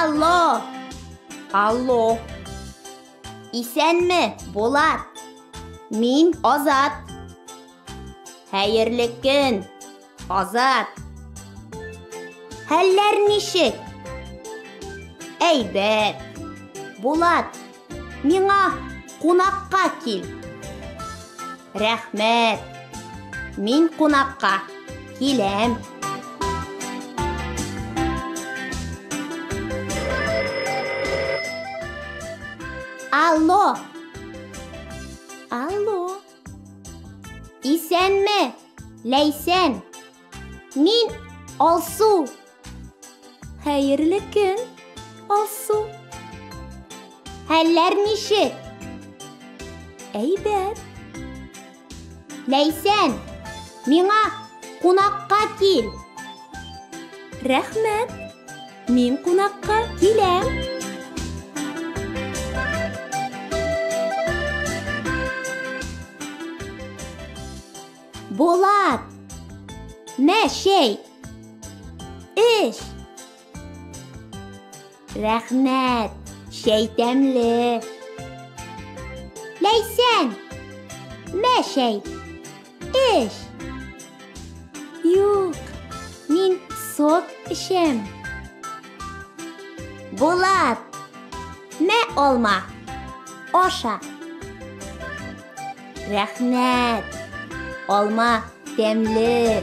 Алло! Алло! Исәнме, Булат? Мин Азат. Хәерле көн! Азат! Хәлләр ничек? Әйбәт. Булат, миңа кунакка кил. Рәхмәт. Мин кунакка киләм. Алло! Алло! Исәнме, Ләйсән! Мин Алсу. Хәерле көн, Алсу. Хәлләр ничек? Әйбәт. Ләйсән, миңа кунакка кил. Рәхмәт. Мин кунакка киләм. Булат! Мә чәй! Эш! Рәхмәт! Чәй тәмле! Ләйсән! Мә чәй! Эш. Юк, мин сок эчәм. Булат. Мә алма. Аша. Рәхмәт. Алма тәмле.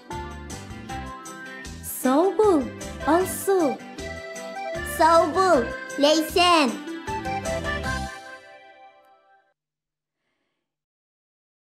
Сау бул, Алсу! Сау бул, Ләйсән!